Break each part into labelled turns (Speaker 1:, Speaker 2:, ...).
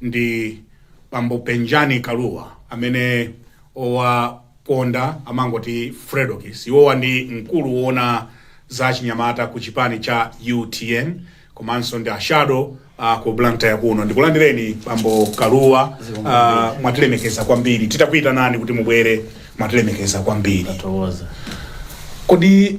Speaker 1: ndi bambo Penjani Kalua amene owaponda amangoti Fredokiss. Iwowa ndi mkulu woona za achinyamata ku chipani cha UTM komanso ndi ashado uh, ku Blantyre kuno. Ndikulandireni bambo Kalua, uh, mwatilemekeza kwambiri. Titakuitanani kuti mubwere mwatilemekeza kwambiri. Tathokoza.
Speaker 2: Kodi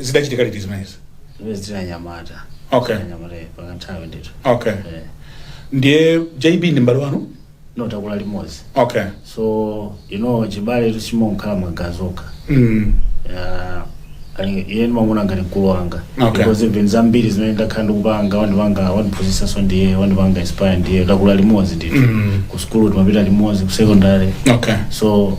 Speaker 1: zidachitika liti zimenezi zimene zina
Speaker 2: nyamata Okay. Zina
Speaker 1: nyamata eh, pakanthawi
Speaker 2: ndithu okay
Speaker 1: Eh, ndiye jb ndi mbale wanu no takula
Speaker 2: limodzi okay so
Speaker 1: you
Speaker 2: know chibaletu sichimangokhala magazi okha mm. Ah, ali- iye ndimamuona ngati mkulu wanga Okay. because even zambiri zimene ndakhala ndikupanga wandipanga wandiphunzisanso ndiye wandipanga inspire ndiye takula limodzi ndithu Mm. ku sukulu timapita limodzi ku secondary okay so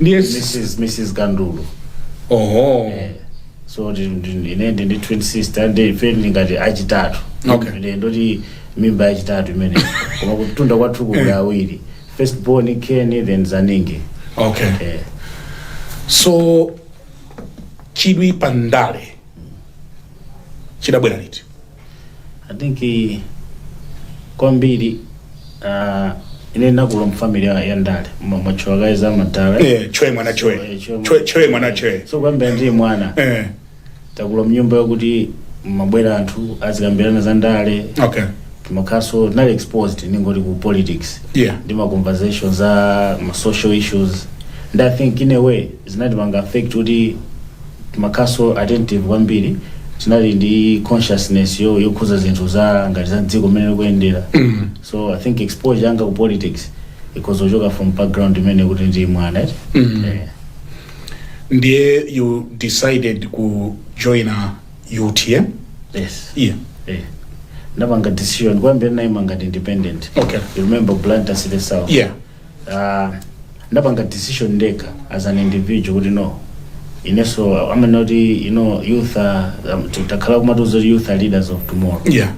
Speaker 2: ndiye
Speaker 1: mrs mrs
Speaker 2: Kandulu oho so ndi- ndi- ine ndi ndi twin sister ndi ife tili ngati achitatu Okay. Ine ndoti mimba yachitatu imene koma kutunda kwathu kuli awiri first born Ken then zaningi
Speaker 1: okay eh. so chidwi pa ndale chidabwera liti I
Speaker 2: think eh, kwambiri uh, ine ndakula mufamily ya ya ndale mwa- mwatchula kaye za madala Eh, chwe mwana
Speaker 1: chwe chwe chwe mwana chwe so kuyambira ndili mwana
Speaker 2: eh takula mnyumba yokuti mumabwera anthu azikambirana za ndale
Speaker 1: okay timakhalanso
Speaker 2: tinali exposed ningoti ku politics yeah ndi ma
Speaker 1: conversation
Speaker 2: za ma social issues and i think in a way zinatipanga affect kuti timakhalanso attentive kwambiri tinali ndi consciousness yo yokhuza zinthu za ngati za dziko mmene likuyendera so i think exposure yanga ku politics ikhoza kuchoka from background imene kuti ndili mwana eti?
Speaker 1: Eh. ndiye you decided kujoina utm yes yeah
Speaker 2: eh. ndapanga decision kuyambira naima ngati independent Okay. you remember
Speaker 1: blantyre
Speaker 2: city south yeah uh, ndapanga decision ndekha as an individual kuti no inenso I mean kuti you know youth are, um, t- takhala kumatiuza kuti youth are leaders of tomorrow yeah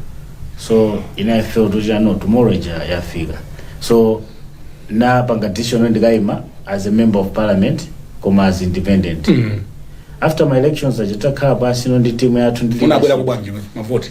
Speaker 1: so
Speaker 2: ine i felt kuti ah no tomorrow ija yafika so napanga decision kuti ndikayima as a member of parliament koma as independent mm. after my elections aja takhala pansi no ndi timu yathu ndi unabwera leadership. kubwanji mavoti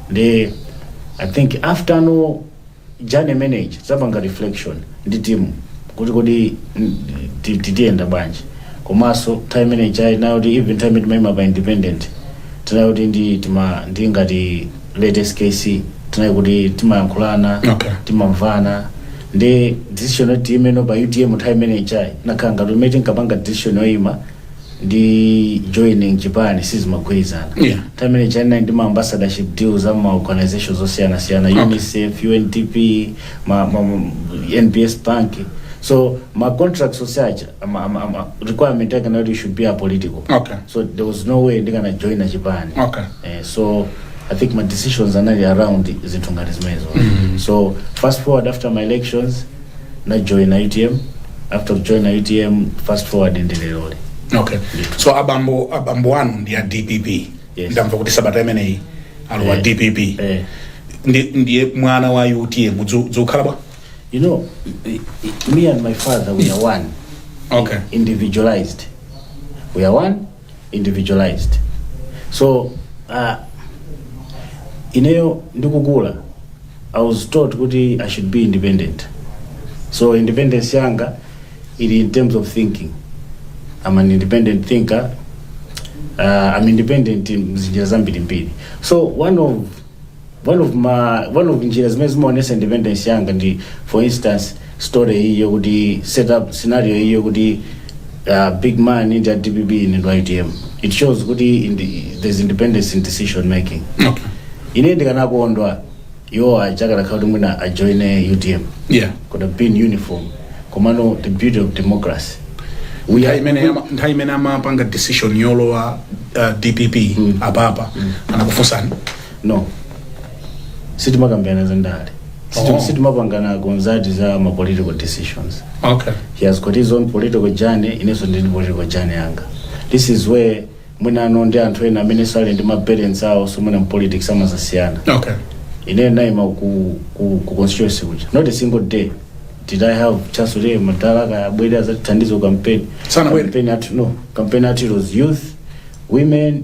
Speaker 2: ndi i think after no journey imene ija tinapanga reflection ndi timu kuti kodi mm, ti- ti- tiyenda bwanji komanso time imene ija inali yokuti even time imene timayima pa independent tinali okuti ndi tima ndi ngati late SKC tinali okuti timayankhulana Okay. timamvana ndi decision yoti tiimeno pa utm nthawi imene ija inakhala ngati mmene tinkapanga decision yoyima ndi joining chipani sizimagwirizana Yeah. nthawi imene ija ndinali ndi ma ambassadorship deals a ma organizations osiyanasiyana Okay. unicef undp ma, ma, ma, nbs bank so ma contracts oti usacha ama, ama, ama, requirement yake inali you should be apolitical okay so there was no way ndikana joina chipani okay Eh, so i think my decisions anali around zinthu ngati zimenezo so fast forward after my elections na join itm after kujoina itm fast forward ndi leroli okay so
Speaker 1: abambo abambo anu ndi a dpp Yes. ndamva kuti
Speaker 2: sabata imeneyi
Speaker 1: alowa Eh. dpp eh. Ndi- ndiye mwana wa utm dzu- dzukhala bwa you know
Speaker 2: i- i- me and my father we are one okay
Speaker 1: individualized
Speaker 2: we are one individualized so uh, ineyo ndikukula i was taught kuti i should be independent so independence yanga ili in terms of thinking i'm an independent thinker uh, i'm independent mzinjira zambirimbiri so one of one of ma one of njira zimene zimaonesa independence yanga ndi for instance story iyi yokuti set up scenario iyi yokuti uh, big man ndi a dpp ine ndi utm it shows kuti indi, there's independence in decision making okay
Speaker 1: ine
Speaker 2: ndikanakondwa iwo akanakhala kuti mwina ajoine utm yeah could
Speaker 1: have been
Speaker 2: uniform komano the beauty of democracy nthawi imene ama-
Speaker 1: nthawi imene amapanga decision yolowa uh, dpp apapa anakufunsani
Speaker 2: no sitimakambirana za ndale Sitim- Oh. sitimapangana consult za ma political decisions okay he has
Speaker 1: got his own
Speaker 2: political journey inenso ndili ndi political journey yanga this is where mwinano ndi anthu ena amene ali ndi ma parents awo so mwina mu politics timadzasiyana
Speaker 1: okay ine
Speaker 2: naima ku, ku, ku constituency kuja not a single day did i have chance kuti madala akabwere adzandithandize ku campaign Sanabwere. campaign at no campaign at it was youth women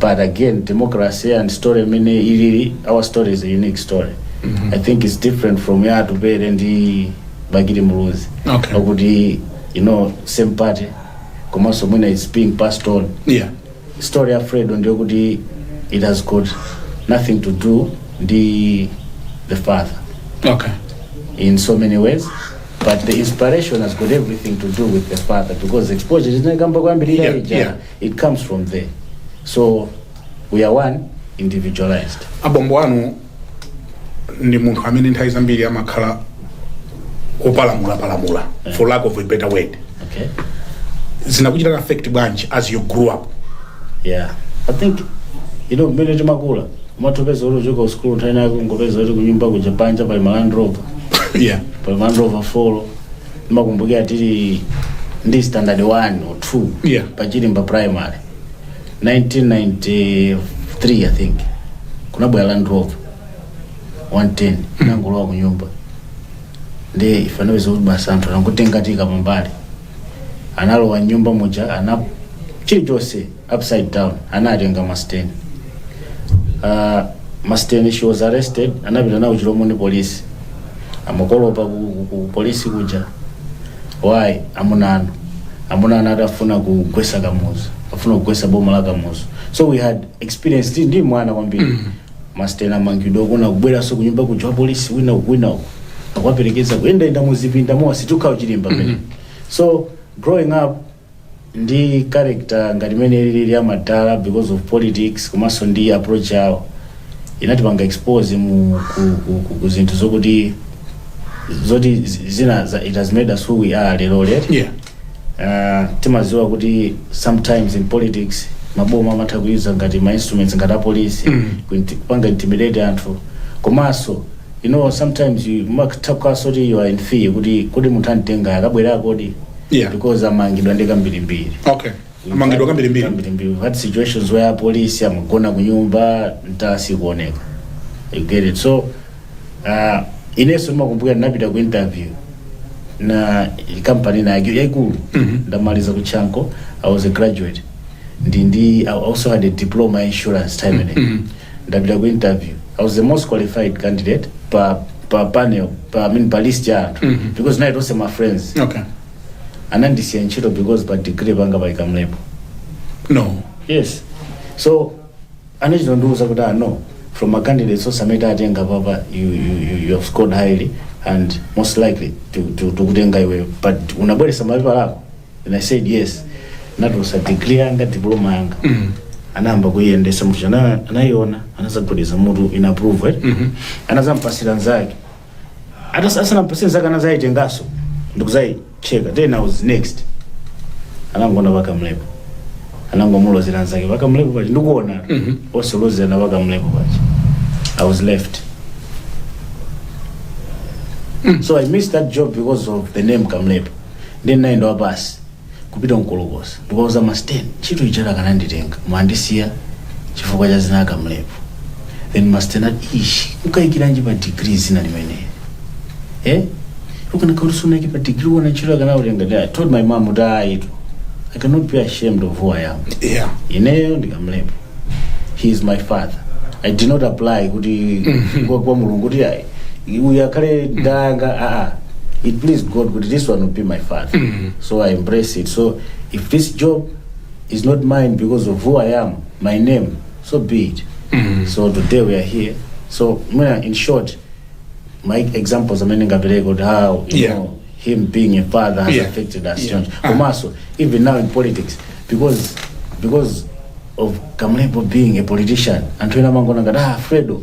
Speaker 2: but again democracy and story imene ilili our story is a unique story i think it's different from ya atupere ndi bakili muluzi Okay. okuti
Speaker 1: you know
Speaker 2: same party komanso mwina it's being passed on yeah
Speaker 1: story ya fredo
Speaker 2: ndiyokuti it has got nothing to do ndi the father
Speaker 1: okay in so
Speaker 2: many ways but the inspiration has got everything to do with the father because exposure tinakamba kwambirira Yeah, ija yeah. It comes from there. So we are one, individualized. abambo
Speaker 1: anu ndi munthu amene nthawi zambiri amakhala akupalamulapalamula for lack of a better word Okay? zinakuchitani affect bwanji as you grew up
Speaker 2: Yeah. I think, you know, mmene timakula umatopeza kuti ukuchoka kusukulu nthawi inayake ungopeza kuti kunyumba kuja panja pali ma Land Rover yeah pali
Speaker 1: ma Land
Speaker 2: Rover folo ndimakumbukira tili mu standard 1 or 2 Yeah. pa chilimba primary 1993 i think kunabwera land rover 110 inangolowa ku nyumba ndi ife tinapeza kuti basi anthu anangotikankhira pambali analowa m'nyumba muja ana chilichonse upside down anatenga masteni uh, masteni she was arrested anapita nawo Chilomoni police amakolopa ku, ku, ku polisi kuja why amuna anu amuna anu akufuna kugwesa kamuzu akufuna kugwesa boma la kamuzu so we had experience ndi- ndi mwana kwambiri masteni amangidwa kuona akubweranso kunyumba kuja wa polisi wina uku wina uku akuwaperekeza kuyendayenda muzipinda mmo akusecha ku Chilimba pamene so growing up ndi character ngati mmene alili amadala because of politics komanso ndi approach yawo inatipanga expose mu ku, ku, ku, ku zinthu zokuti zoti zi- zina za, it has made us who we are lero lero yeah uh,
Speaker 1: timaziwa
Speaker 2: kuti sometimes in politics maboma amatha kuyuza ngati ma instruments ngati apolisi mm. kupanga intimidate anthu komanso you know sometimes umatha kukhalanso kuti you are in fear kuti kodi munthu anditenga akabwera kodi Yeah.
Speaker 1: because amangidwa
Speaker 2: ndi kambirimbiri okay
Speaker 1: amangidwa kambirimbiri kambirimbiri we've had
Speaker 2: situations where apolisi amagona kunyumba ntasi kuoneka you get it so uh, inenso ndimakumbukira ndinapita ku interview ya kampani ina yaikulu nditamaliza ku Chanco i was a graduate ndi ndi i also had a diploma in insurance time and ndapita ku interview i was the most qualified candidate pa pa panel pa i mean pa list ya anthu because anali onse ma friends okay
Speaker 1: anandisiya
Speaker 2: ntchito because pa degree panga pali Kamlepo no yes so anachita ndiuza kuti ah no from ma candidates onse amene tatenga apapa you, you, you, you have scored highly and most likely to, to, tikutenga iwe but wabweretsa mapepala ako and i said yes ndatulutsa degree yanga diploma yanga anayamba kuyiyendetsa muja ana- anayiona anazagwedeza mutu inapprove eh? anazampatsira nzake Atas- asanampatsire nzake anazayitenganso ndikuzayicheka then i was next anangoona pa Kamlepo anangomulozera nzake pa Kamlepo paja ndikuona akulozerana pa Kamlepo paja i was left so i missed that job because of the name kamlepo ndiye ndinayenda wapasi kupita Nkolokosa ndikukauza masten ntchito ija akananditenga koma andisiya chifukwa cha dzina la Kamlepo then masten ati ishi ukaikiranji pa digiri dzina limeneli eh ukanakhala usunaike pa digiri bwenzi ntchito akanakutenga ndi i told my mom kuti ayi tu i cannot be ashamed of who i am yeah ineyo
Speaker 1: ndi
Speaker 2: Kamlepo he is my father i did not apply kuti kwa, kwa mulungu kuti ayi uyu akhale danga aa it please god kuti this one will be my father so i embrace it so if this job is not mine because of who i am my name so be it so today we are here so mwina in short my examples amene ngapereka kuti how you Yeah. know him being a father has Yeah. affected us Yeah. choncho Ah. komanso even now in politics because because of kamlepo being a politician anthu ena amangona ngati ah fredo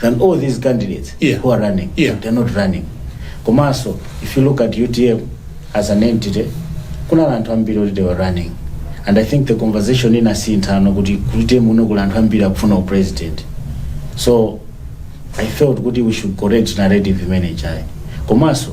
Speaker 2: than all these candidates Yeah. who are running. Yeah. They're not running. Komanso, if you look at UTM as an entity, kuna anthu ambiri oti they were running. And I think the conversation inasintha ano kuti ku UTM uno kula anthu ambiri akufuna u president. So I felt kuti we should correct narrative imene chai. Komanso,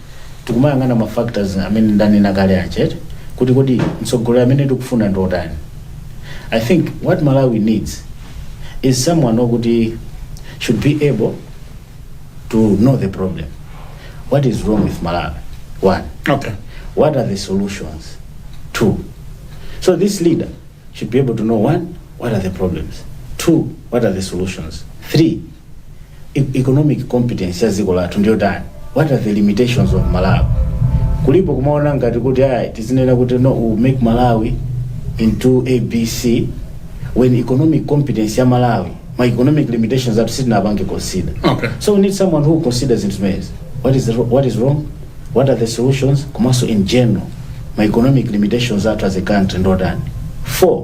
Speaker 2: tikumayang'ana ma factors amene ndanena kale aja eti kuti kodi mtsogoleri amene tikufuna ndi otani i think what malawi needs is someone okuti should be able to know the problem what is wrong with malawi one okay
Speaker 1: what are the
Speaker 2: solutions two so this leader should be able to know one what are the problems two what are the solutions three e- economic competence ya dziko lathu ndiyotani what are the limitations of malawi kuopa kumaona ngati kuti ayi tizinena kuti no we make malawi into abc when economic competence ya malawi ma economic limitations athu sitinapange consider Okay. so we need
Speaker 1: someone
Speaker 2: who considers zinthu zimenezi what is, the, ro- what is wrong what are the solutions komanso in general ma economic limitations athu as a country ndi otani four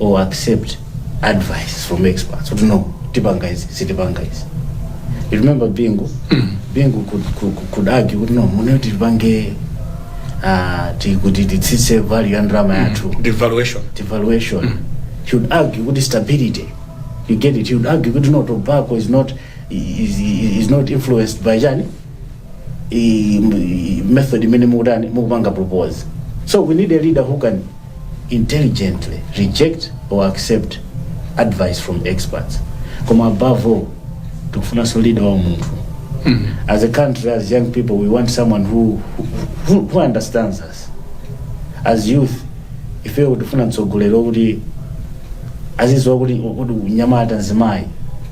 Speaker 2: or accept advice from experts kuti no tipanga izi sitipanga izi you remember bingu bingu could, could, could argue kuti no munati tipange ah, ti- kuti titsitse value ya ndalama yathu devaluation devaluation he would argue kuti stability you get it he would argue kuti no tobacco is not is, is not influenced by chani i- i- method imene mukutani mukupanga propose so we need a leader who can intelligently reject or accept advice from experts koma above all tikufunanso leader wa munthu as a country as young people we want someone who, who, who understands us as youth ifeyo tifuna mtsogoleri woti azidziwa kuti unyamata mzimayi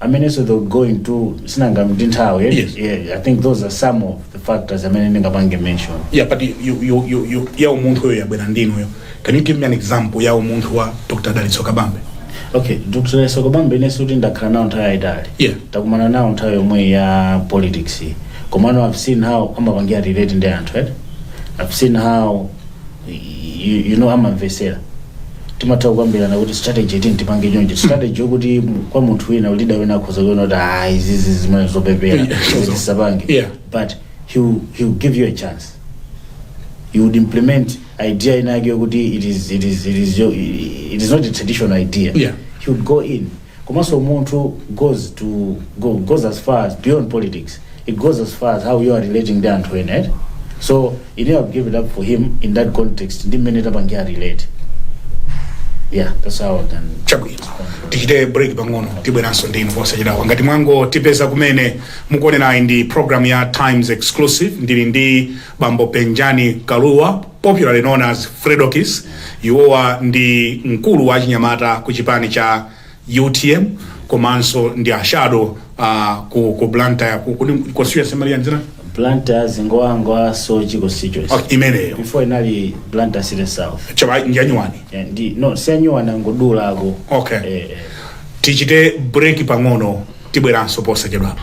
Speaker 2: amenenso they will go into zinangochitika ndi nthawi eh? Yes. yeah, i think those
Speaker 1: are
Speaker 2: some of the factors amene ndingapange mention yeah but you, you,
Speaker 1: you, you, ya umunthuyo yabwera ndinuyo can you give me an example ya umunthu wa dr dalitso kabambe okay dr
Speaker 2: dalitso kabambe inenso sikuti ndakhala nawo nthawi yayitali Yeah. takumana
Speaker 1: nawo
Speaker 2: nthawi yomwe ya politics komano i've seen how amapangira relate ndi anthu eh? i've seen how you, you know amamvesera timatha kukambirana kuti strategy iyi tipange chonje strategy yokuti mu- kwa munthu wina leader wina akhoza kuona kuti ah izizi zimene zopepera Yeah, sure. kuti tisapange Yeah. but he will, he will give you a chance you would implement idea inake yokuti it is, it is, it is, your, it is not a traditional idea Yeah. he would go
Speaker 1: in
Speaker 2: komanso umunthu goes to go, goes as far as beyond politics it goes as far as how you are relating ndi anthu ena eh? so ine I give it up for him in that context ndi mmene tapangira relate yeah that's how I can chabwino
Speaker 1: tichite break pang'ono tibweranso ndinu posachedwapa ngati mwangotipeza kumene mukuonerayi ndi program ya times exclusive ndili ndi Bambo Penjani Kalua, popularly known as Fredokiss, iwowa ndi mkulu wa achinyamata ku chipani cha utm komanso ndi a shadow uh, ku, ku Blantyre ku, ku, constituency imati yanji ya
Speaker 2: Blantyre Zingwangwa Soche constituency okay, imeneyo
Speaker 1: before
Speaker 2: inali Blantyre City South chabe ndi yanyuwani
Speaker 1: Eh, ndi no
Speaker 2: siyanyuwani angodulako
Speaker 1: Okay. eh, eh. tichite break pang'ono tibweranso posachedwapa